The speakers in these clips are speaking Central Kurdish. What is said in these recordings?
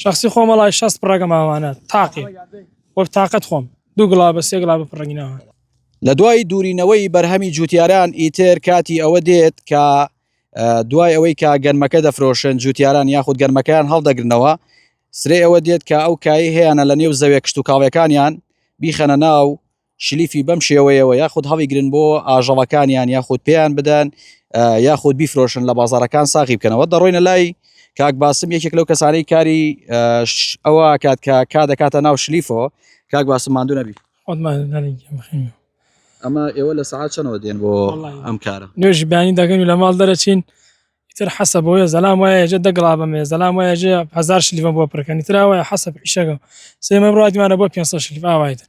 شەخسی خۆم وەڵای شەست پڕەکە ماوانە تاقێ وە تاقەت خۆم دوو گڵا بە سێ گڵا بە پڕەنگی ناوان لە دوای دوورینەوەی بەرهەمی جوتیاران ئیتر کاتی ئەوە دێت کە دوای ئەوەی کە گەنمەکە دەفرۆشن جوتیاران یاخود گەنمەکەیان هەڵدەگرنەوە سرێ ئەوە دێت کە ئەو کای هەیەە لە نێو زەوێ کشت و کاڵەکانیان بیخەنە ناو شلیفی بەم شێوەیەوە یاخود هەڵیگرن بۆ ئاژەڵەکانیان یاخود پێیان بدەن یاخود بیفرۆشن لە بازارەکان ساغی بکەنەوە دەڕۆینە لای کاک باسم یەکێک لەو کەسانی کاری ئەوە کات کە کا دەکاتە ناو شلیفۆ کاک باسم ماندو نەبی ئەمە ئێوە لە سعات چەنەوە دێن بۆ ئەم کارە نوێژی بانی دەگەن و لە ماڵ دەرەچین تر حەسە بۆیە زەلام وایە جە دەگڵا بەمێ زەلام وایە جێ هزار شلیفە بۆ پرکەنی تراوایە حەسە پیشەکە سێمە ڕاتمانە بۆ پێ شلیف ئاوایتن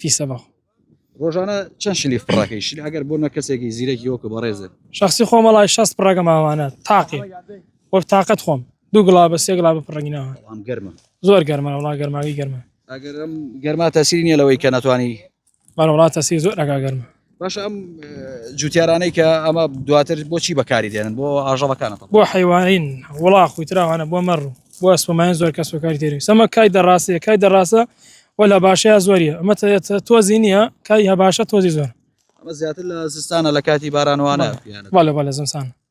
پیسە بەخۆ. ڕۆژانە چەند شلی فڕەکەی شل ئەگەر بۆنە کەسێکی زیرەکی وەکو بەڕێزت شخصی خۆمە لای شەست پڕەکە ماوانە تاقێ وەک تااقەت خۆم دوو گڵا بە سێ گڵا بە پڕەنگی ناوە بەڵام گەرمە زۆر گەرمە وڵا گەرماوی گەرمە ئەگەرم گەرما تەسیری نیە لەوەی کە ناتوانانی بەڵ وڵاتە سی زۆر ئەگا گەرمە باشە ئەم جوتیارانەی کە ئەمە دواتر بۆچی بەکاری دێنن بۆ ئاژەڵەکانە بۆ حیوانین وڵا خویتراوانە بۆ مەڕ و بۆ ئەسپمایان زۆر کەس وکاری تێری سەمە کای دەڕاستەیە کای دەڕاستە وە لە باشەیە زۆریە ئەمە تۆزی نییە کای هە باشە تۆزی زۆر ئەمە زیاتر لە زستانە لە کاتی بارانوانە بەڵێ بەڵێ زمسان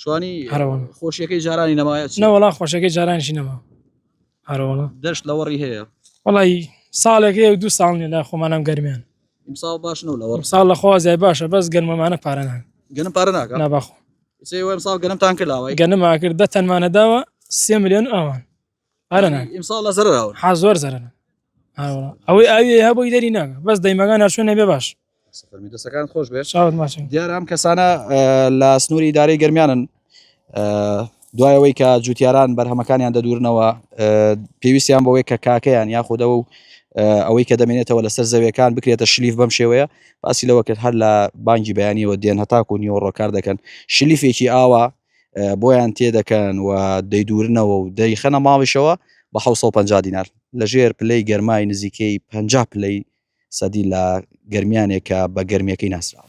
شوانی هەرەوەن خۆشیەکەی جارانی نەمایە نەوەڵا خۆشەکەی جارانشی نەما هەرەوەڵە دەشت لەوەڕی هەیە وڵی ساڵێکی و دوو ساڵ لە خۆمانم گەرمیان ساڵ باش نەوە لەوە ساڵ لە خۆزای باشە بەس گەرمەمانە پارەنان گەنم پارە ناکە نابخۆ ساڵ گەنمتان کرداوە گەنمما کرد دە تەنمانەداوە سێ میلیۆن ئەوان ئەرە نان ئیمساڵ لە زەرەر ئەوە ها زۆر زەرەر ئەوەی ئاوی هەبووی دەری ناگە بەس دەیمەگان هەرچوو نەبێ باش سەفەرمی دەسەکان خۆش بێت چاوت ماچن دیارە ئەم کەسانە لە سنووری دارەی گەرمیانن دوایەوەی کە جوتیاران بەرهەمەکانیان دەدورنەوە پێویستیان بەوەی کە کاکەیان یاخودەوە و ئەوەی کە دەمێنێتەوە لەسەر زەویەکان بکرێتە شلیف بەم شێوەیە باسی لەوە کرد هەر لە بانگی بەیانیەوە دێن هەتاکو نیوەڕۆ کار دەکەن شلیفێکی ئاوا بۆیان تێدەکەن و دەیدورنەوە و دەیخەنە ماڵیشەوە بە 1950 دینار لەژێر پلەی گەرمای نزیکەی 50 پلەی سەدی لە گەرمیانێکە بە گەرمیەکەی ناسراوە.